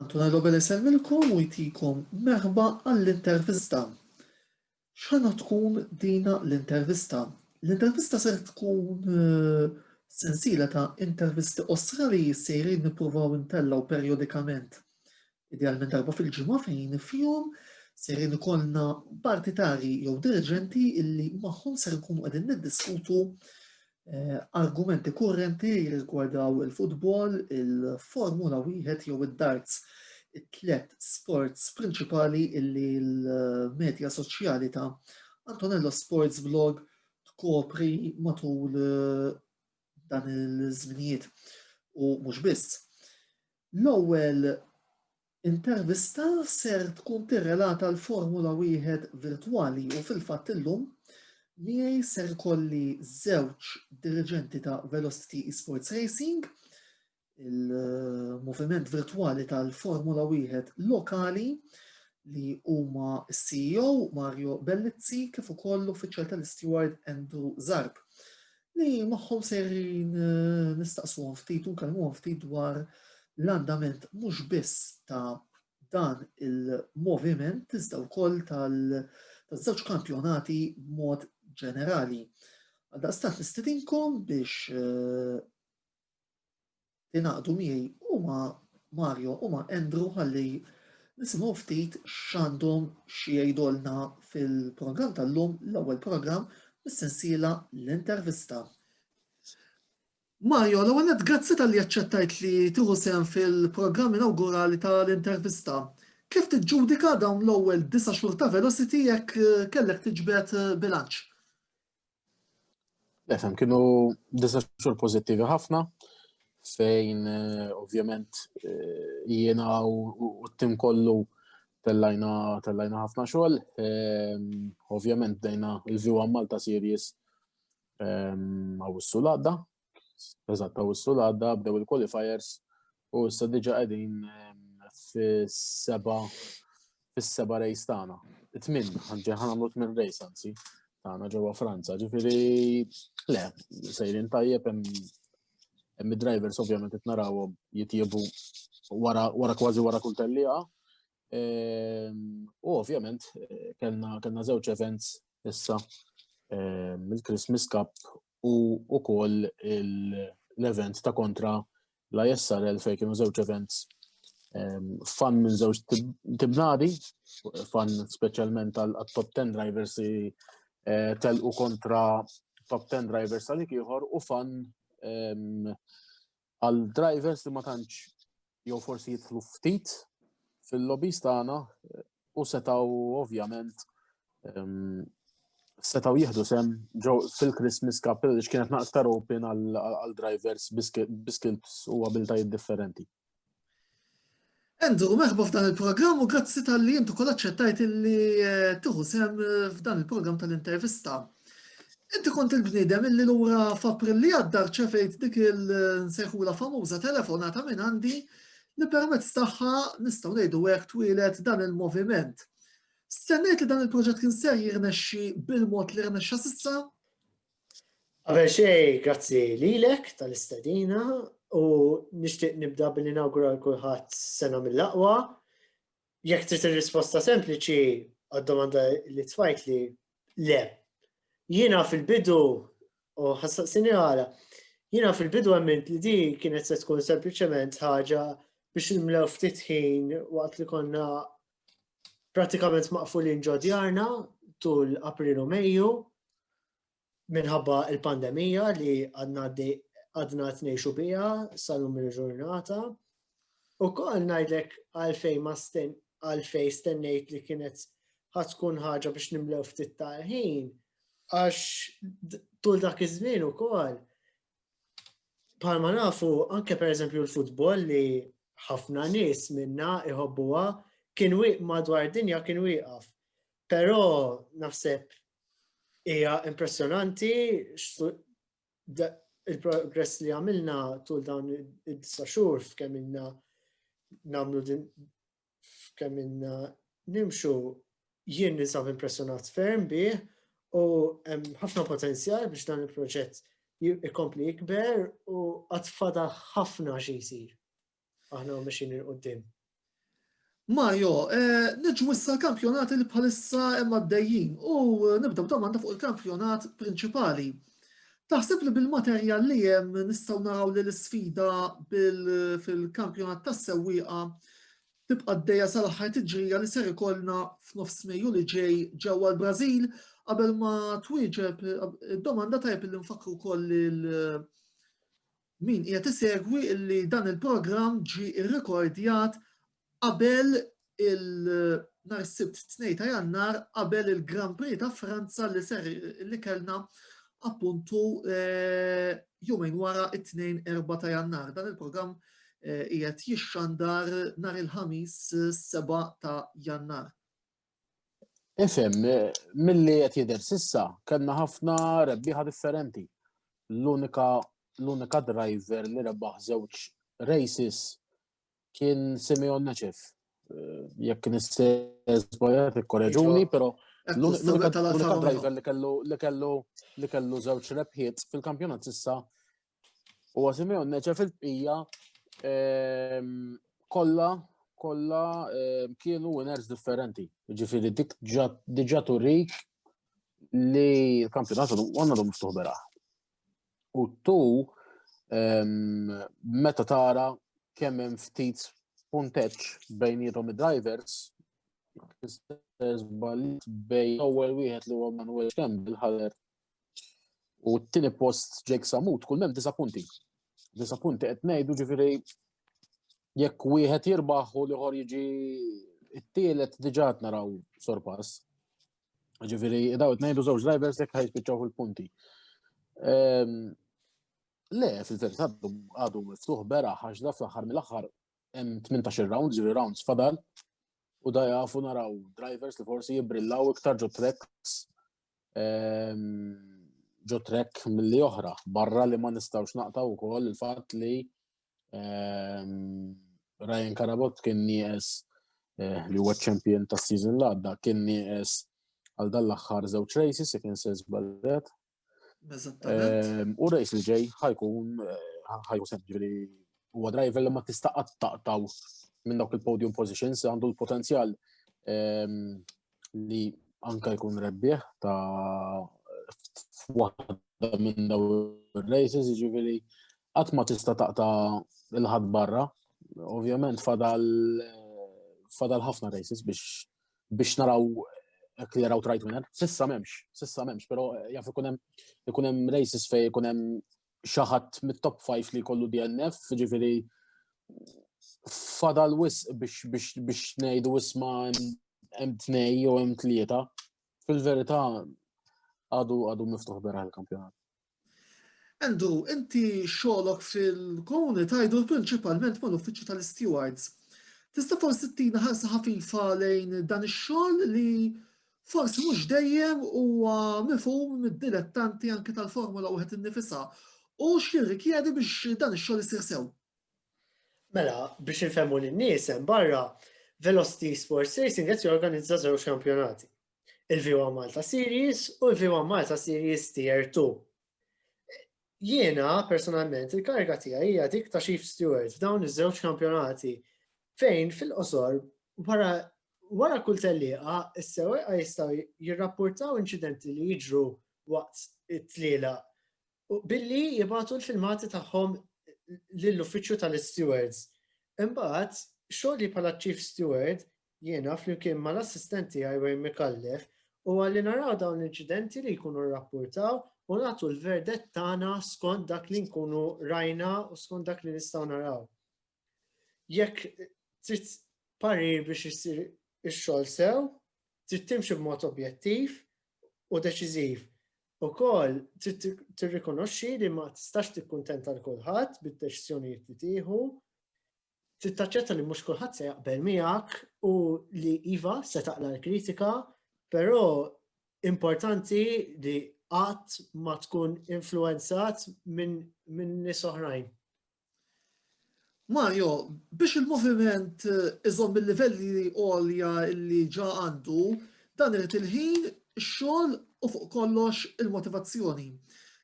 Antuna Robel isemmilkom u jtikom merħba għall-intervista. X'ħana tkun dina l-intervista? L-intervista ser tkun eh, sensila ta' intervisti osra li jissiri nippruvaw intellaw perjodikament. Idealment darba fil-ġimgħa fejn fihom ser ikollna partitari jew dirigenti illi magħhom ser nkunu qegħdin niddiskutu Eh, argumenti kurrenti jirrigwardaw il-futbol, il-Formula wieħed jew id-darts it-tlet sports prinċipali illi l-medja soċjali ta' Antonello Sports Blog tkopri matul eh, dan il-żminijiet u mhux biss. L-ewwel Intervista ser tkun tirrelata l-Formula Wieħed virtwali u fil-fatt illum miegħi ser ikolli żewġ diriġenti ta' Velocity Esports Racing, il-moviment virtwali tal-Formula Wieħed lokali li huma s-CEO Mario Bellizzi kif ukoll l-uffiċjal tal-isteward Andrew Zarb. li magħhom sejrin eh, nistaqsu ftit u nkellmu ftit dwar l-andament mhux biss ta' dan il-moviment iżda wkoll tal-żewġ kampjonati b'mod ġenerali. Għaldaqstant nistidinkom biex eh, tingħaqdu miegħi u ma' Mario u ma' Andrew ħalli nisimgħu ftit x'għandhom xi jgħidulna fil-programm tal-lum, l-ewwel programm mis-sensiela l-intervista. Mario, l ewwel grazzi tal-li aċċettajt li tieħu sehem fil-programm inawgurali tal-intervista. Kif tiġġudika dawn l-ewwel disa' xhur ta' Velocity jekk kellek tiġbed bilanċ? Lefem, kienu disa xur pozittivi ħafna, fejn eh, ovvjament eh, jiena u t-tim kollu tellajna tellajna ħafna xogħol. Ehm, ovvjament dejna il-View Malta Series ehm, għaw s-sulada, Eżatt, u s-sul għadda bdew il-qualifiers u issa diġa qegħdin fis-seba fis-seba rejs tagħna. Tmin, ħanġi ħanamlu tmin rejs anzi tagħna ġewwa Franza. Ġifieri le, sejrin tajjeb hemm id-drivers ovvjament qed narawhom jitjiebu wara kważi wara kull tellieqa. Ehm, u ovvjament kellna żewġ events issa ehm, il-Christmas Cup u wkoll l-event ta' kontra la jessarel fejn kienu żewġ events ehm, fan minn żewġ tibnadi, fan speċjalment għal top 10 drivers li eh, telqu kontra top 10 drivers għalik ieħor u fan ehm, Għal drivers li ma tantx jew forsi jidħlu ftit fil-lobbies tagħna u setaw ovvjament ehm, setaw jihdu sem ġew fil-Christmas Cup li kienet naqtar open għal drivers biskills u abiltajiet differenti. Andrew, meħba f'dan il-programm u grazzi tal-li jintu kol aċċettajt li eh, tuħu sem eh, f'dan il-programm tal-intervista. Inti kont il-bnidem illi l-ura f'April li għadda ċefejt dik il-nsejħula famuża telefonata minn għandi li permezz tagħha nistgħu ngħidu hekk twilet dan il-moviment. Stennejt li dan il-proġett kien ser jirnexxi bil-mod li rnexxa sissa? Qabel xejn, grazzi lilek tal-istedina u nixtieq nibda billi nawgura l kulħadd sena mill-aqwa. Jekk trid ir-risposta sempliċi għad-domanda li tfajt li le. Jiena fil-bidu u ħassaqsini għala, jiena fil-bidu għamilt li di kienet se tkun sempliċement ħaġa biex nimlew ftit ħin waqt li konna pratikament maqfulin ġo djarna tul April u Mejju minħabba il-pandemija li għadna għadna t-nejxu bija sal-lum il-ġurnata. U kol najdlek għalfej ma sten, għalfej stennejt li kienet ħatkun ħaġa biex nimlew ftit tal-ħin, għax tul dak iż-żmien ukoll Palma nafu, anke per eżempju l-futbol li ħafna nis minna iħobbuha kien wieq madwar dinja kien wieqaf. Però naħseb hija impressjonanti il-progress li għamilna tul dawn id-disa xhur f'kemm ilna namlu f'kemm inna nimxu jien nisab impressjonat ferm bih u hemm ħafna potenzjal biex dan il-proġett jikompli jikber u għatfada ħafna xi jsir. Aħna mexin il-qoddim. Mario, eh, nġu issa l-kampjonat li bħalissa hemm għaddejjin u eh, nibdew domanda fuq il-kampjonat prinċipali. Taħseb li bil-materjal li hemm nistgħu naraw li l-isfida fil-kampjonat tas-sewwieqa tibqa' d-dejja sal-aħħar tiġrija li ser ikollna f'nofs Mejju li ġej ġewwa l-Brażil qabel ma twieġeb id-domanda tajb li nfakru wkoll Min qiegħed isegwi li dan il-programm ġie rrekordjat qabel il nhar is-Sibt tnejn ta' Jannar qabel il-Grand Prix ta' Franza li ser li kellna appuntu jumejn wara it-Tnejn erba' ta' Jannar. Dan il-programm qiegħed jixxandar nhar il-Ħamis seba' ta' Jannar. Ifem, mill-li qed jidher sissa, kellna ħafna rebbieħa differenti. L-unika l-unika driver li rebaħ żewġ races kien Simeon Neċef. Eh, jekk nistezbajat ikkoreġuni, pero l-unika driver li kellu li kellu li kellu żewġ rebħiet fil-kampjonat issa U Simeon neċa fil-bqija ehm, kolla kolla ehm, kienu winners differenti. Ġifiri dik diġa turik li l-kampjonat għanna dom miftuħ bera. U tu ehm, meta tara kemm hemm ftit punteċ bejnietom id-drivers, bejn l-ewwel wieħed li huwa Manuel Campbell ħader U t-tini post Jake Samut, kull mem disa punti. Disa punti qed ngħidu ġifieri jekk wieħed jirbaħ u liħor jiġi it-tielet diġà naraw sorpass. Ġifieri daw qed ngħidu żewġ drivers jekk ħajspiċċaw fil-punti. Ehm, le, fil-verità għadu miftuħ bera għax da fl-aħħar mill-aħħar hemm 18 round, ġifieri rounds fadal u da jafu naraw drivers li forsi jibrillaw iktar ġo treks ġo trek mill-li oħra, barra li ma nistawx naqta u koll il-fat li Ryan Karabot kien nijes eh, li huwa champion ta' season l-għadda, kien nijes għal dan l-axħar zewċ rejsi, se kien se zballet. U rejs li ġej ħajkun eh, ħajkun semġi li huwa driver li ma tista' qattaqtaw minn dawk il-podium positions għandu l-potenzjal li anka jkun rebbieħ ta' f'waħda minn daw il-races, ġivili, għat ma tista taqta il-ħad barra, ovvjament fadal fadal ħafna races biex biex naraw jekk jaraw trajt winner. Sissa memx, sissa memx, pero jaf ikunem ikunem races fej ikunem xi ħadd mit-top 5 li jkollu DNF, ġifieri fadal wis biex ngħidu isma' hemm tnej jew hemm tlieta. Fil-verità għadu għadu miftuħ bera l-kampjonat. Endu, inti xolok fil-komuni tajdu principalment mal uffiċċju tal-stewards. Tista' forsi tina ħarsa ħafifa lejn dan ix-xogħol li forsi mhux dejjem huwa mifhum mid-dilettanti anki tal-Formula wieħed innifisha u x'jirrikjedi biex dan ix-xogħol isir sew. Mela, biex infemmu lin-nies hemm barra, Velocity Sports Racing qed jorganizza żewġ kampjonati. Il-V1 Malta Series u l-V1 Malta Series Tier 2. Jiena, personalment, il-kariga tiegħi hija dik ta' chief steward f'dawn iż-żewġ kampjonati fejn fil-qosor wara wara kull tellieqa s-sewwieqa jistgħu jirrappurtaw inċidenti li jiġru waqt it-tliela billi jibgħatu l-filmati tagħhom lill-uffiċċju tal-stewards. Imbagħad, xogħli bħala chief steward jiena flimkien mal-assistent tiegħi Wayne Micallef huwa li naraw dawn l-inċidenti li jkunu rrappurtaw u nagħtu l-verdett tagħna skont dak li nkunu rajna u skont dak li nistgħu naraw. Jekk trid parir biex isir ix-xogħol sew, trid timxi b'mod objettiv u deċiżiv. Ukoll trid tirrikonoxxi li ma tistax tikkuntenta l kulħadd bid-deċiżjonijiet li tieħu trid taċċetta li mhux kulħadd se jaqbel miegħek u li iva se taqla l-kritika, però importanti li qatt ma tkun influenzat minn min nies oħrajn. Mario, biex il-moviment eh, iżomm il-livelli għolja li ġa għandu, Dan irid il-ħin, ix-xogħol u fuq kollox il-motivazzjoni.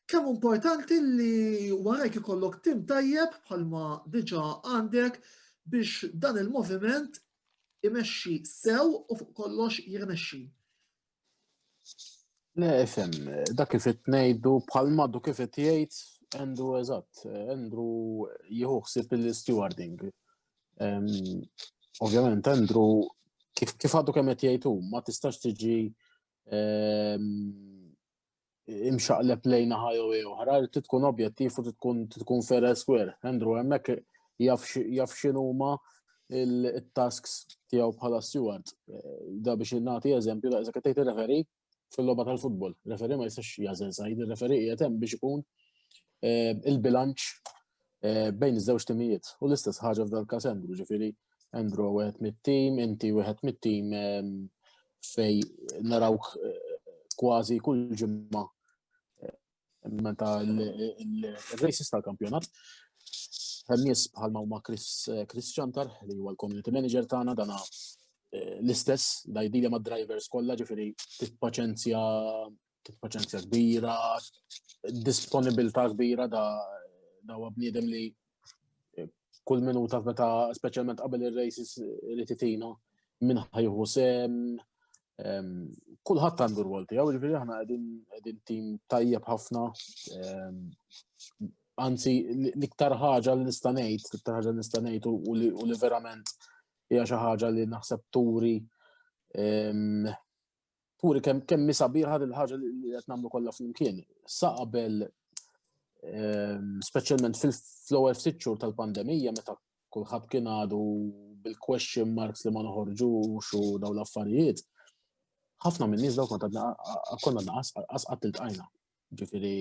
Kemm importanti li warajk ikollok tim tajjeb bħalma diġà għandek biex dan il-moviment imexxi sew u fuq kollox jirnexxi. Le, fem, dak kif qed ngħidu bħalma du kif qed jgħid Andrew eżatt, Andrew jieħu ħsieb l-stewarding. Ovvjament, Andrew, kif għadu kemm qed jgħidu, ma tistax tiġi imxaqleb lejna ħajja u oħra, li tkun objettiv u tkun tkun fair and square. Andrew hemmhekk jaf x'inhuma il-tasks tiegħu bħala steward. Da biex nagħti eżempju, da iżda qed tgħid referi fil-logħba tal-futbol. Referi ma jistax jażel sajd, il-referi qiegħed hemm biex ikun eh, il-bilanċ eh, bejn iż-żewġ timijiet. U l-istess ħaġa f'dal każ Andrew, ġifieri Andrew wieħed mit-tim, inti wieħed mit-tim eh, fej narawk kważi kull ġimma meta l-races tal-kampjonat. Nies bħal ma huma Chris Chantar li huwa l-community manager tagħna dana eh, l-istess da jdilja ma' drivers kollha ġifieri titpaċenzja titpaċenzja kbira, disponibilità kbira da da bniedem li kull minuta meta speċjalment qabel ir-races li titina minn ħajħu sem kulħadd għandu rwol tiegħu, ġifieri aħna qegħdin tim tajjeb ħafna. Anzi, l-iktar ħaġa li nista' ngħid, l-iktar ħaġa li nista' ngħid u li verament hija xi ħaġa li naħseb turi Puri kemm kemm mi sabiħa din ħaġa li qed nagħmlu kollha flimkien. Sa qabel ehm, speċjalment fil-ewwel ftit xhur tal-pandemija meta kulħadd kien għadu bil-question marks li ma noħorġux u dawn l-affarijiet, ħafna minn nies dawk konna naqas qatt iltqajna. Ġifieri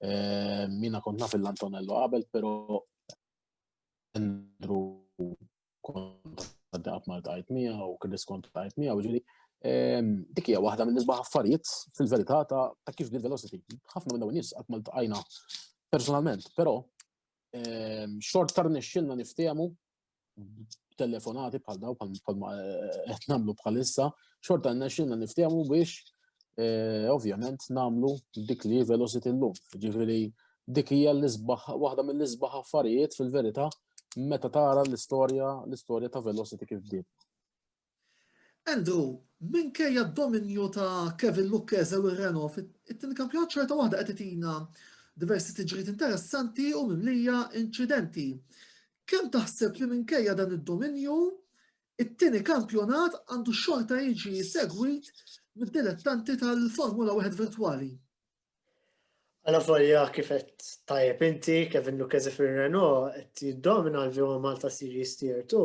ehm, mina kont naf l-Antonello qabel, però Andrew kont għaddaqab mal tajt miegħu u kien diskont tajt miegħu ġieli. Ehm, dik hija waħda minn nisbaħ affarijiet fil-verità ta' kif bil velocity. Ħafna minn dawn nies qatt mal tqajna personalment, però ehm, xort tar nixxilna niftehmu telefonati bħal daw bħal ma eh, qed nagħmlu bħalissa, xorta nixxilna niftehmu biex eh, ovvjament nagħmlu dik li velocity llum. Ġifieri dik hija l-isbaħ waħda mill-isbaħ affarijiet fil-verità meta tara l-istorja, l-istorja ta' Velocity kif bdiet. Andrew, minkejja d-dominju ta' Kevin Lucchese u Renault fit-tieni kampjonat ċerta waħda qed itina diversi tiġriet interessanti u mimlija inċidenti. Kemm taħseb li minkejja dan id-dominju, it-tieni kampjonat għandu xorta jiġi segwit mid-dilettanti tal-Formula 1 virtwali? Għala volja kif qed tajjeb inti, Kevin Lucchese fir-Renault qed jiddomina l-View Malta Series Tier 2.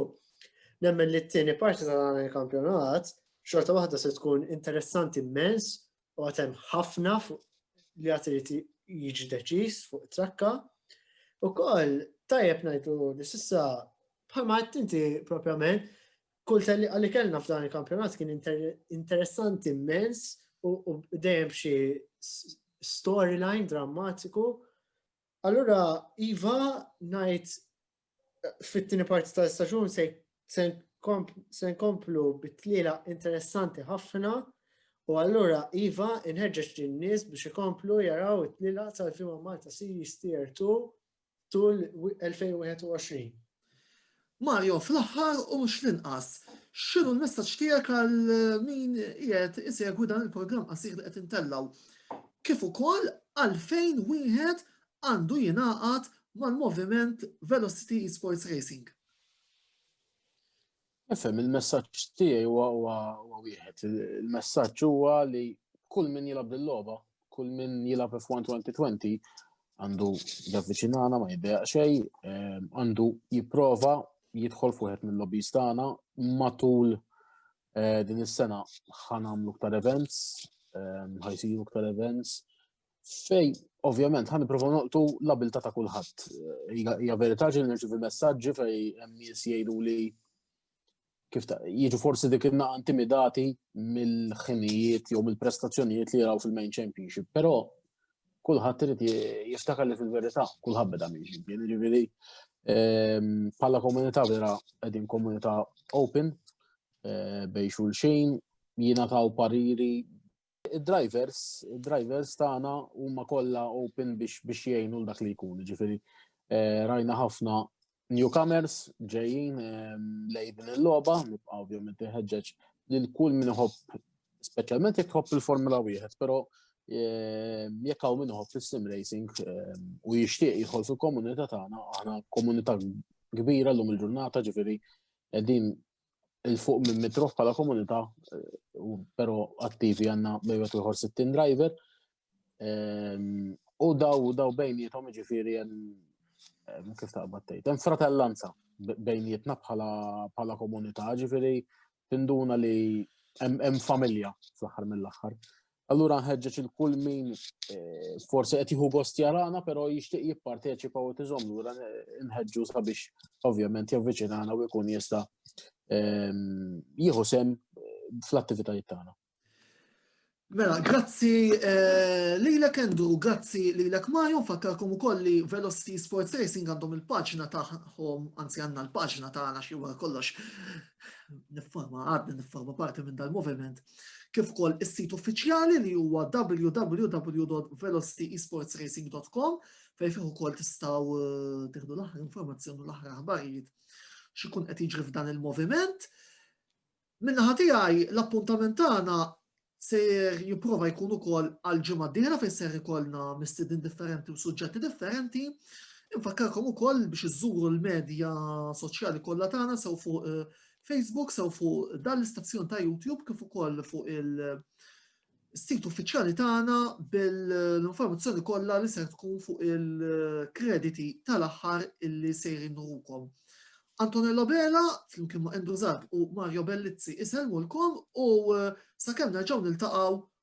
Nemmen li t-tieni parti ta' dan il-kampjonat xorta waħda se tkun interessanti immens u għatem ħafna li għat irid jiġi deċiż fuq trakka. U koll tajjeb ngħidu li sissa bħalma qed inti propjament kull tellieqa li kellna f'dan il-kampjonat kien interessanti immens u dejjem xi storyline drammatiku. Allura, Iva, najt fit-tini parti ta' staġun se nkomplu bit-tliela interessanti ħafna u allura Iva inħeġġeġ lin-nies biex ikomplu jaraw it-tliela tal-Fima Malta Series Tier 2 tul 2021. Mario, fl-aħħar u mhux l-inqas, x'inhu l-messaġġ tiegħek għal min qiegħed isegwi dan il-programm qasir li qed intellgħu? Kif ukoll għalfejn wieħed għandu jingħaqad mal-moviment Velocity Esports Racing? Nifhem, il-messaġġ tiegħi huwa huwa wieħed. Il-messaġġ huwa li kull min jilgħab bil-logħba, kull min jilgħab F1 2020 għandu javviċinana ma jiddeja xejn, eh, għandu jipprova jidħol fuħet minn lobbies tagħna matul eh, din is-sena ħanamlu ktar events, eh, ħajsiru ktar events, Fej, ovvjament, ħan niprofa noqtu l-abilta ta' kulħadd. Hija verità ġil nirċivi messaġġi fej hemm nies jgħidu li kif ta' jiġu forsi dik il naqa intimidati mill-ħinijiet jew mill-prestazzjonijiet li jaraw fil-main championship, però kulħadd irid jiftakar li fil-verità kulħadd beda minn xi jiġifieri bħala ehm, komunità vera qegħdin komunità open eh, bej xulxin, jina taw pariri Id-drivers, id-drivers tagħna huma kollha open biex biex jgħinu l dak li jkun, ġifieri eh, rajna ħafna newcomers ġejjin eh, lej din il-logħba, nibqa' ovvjament iħeġġeġ lil kull min iħobb speċjalment jekk iħobb il-Formula wieħed, però eh, jekk hawn min iħobb is-sim racing u jixtieq jidħol fil-komunità tagħna, aħna komunità kbira llum il-ġurnata ġifieri qegħdin il-fuq minn mitruf bħala komunità, eh, pero attivi għanna bejwet uħor 60 driver. Ehm, u daw daw bejnietom ġifiri jen ehm, kif ta' battejt. Jen fratellanza bejnietna bħala bħala komunità, ġifiri tinduna li jem familja fl-axar mill-axar. Allura nħeġġeġ il-kull min eh, forsi qed jieħu gost jarana, però jixtieq jipparteċipa u tiżomm lura eh, nħeġġu sabiex ovvjament javviċinana u jkun jista' ehm, jieħu sem eh, fl-attivitajiet tagħna. Mela, grazzi lilek Endu, grazzi lilek Mario, fakkarkom ukoll li Velocity Sports Racing għandhom il-paġna tagħhom, anzi għandna l-paġna tagħna xi wara kollox nifforma għadni nifforma parti minn dal-moviment kif ukoll is-sit uffiċjali li huwa www.velocityesportsracing.com fejn fih ukoll tistgħu eh, tieħdu l-aħħar informazzjoni u l-aħħar aħbarijiet x'ikun qed jiġri f'dan il-moviment. Minnaħa tiegħi l-appuntament tagħna ser jipprova jkun ukoll għal ġimgħa d-dieħla fejn ser ikollna mistedin differenti u suġġetti differenti. Infakkarkom ukoll biex iżżuru l-medja soċjali kollha tagħna sew fuq eh, Facebook sew fuq dan l-istazzjon ta' YouTube kif ukoll fuq il-sit uffiċjali tagħna bil-informazzjoni kollha li ser tkun fuq il-krediti tal-aħħar illi sejrin nurukom. Antonella Bela, flimkien ma' Andrew Zab u Mario Bellizzi iselmulkom u sakemm nerġgħu niltaqgħu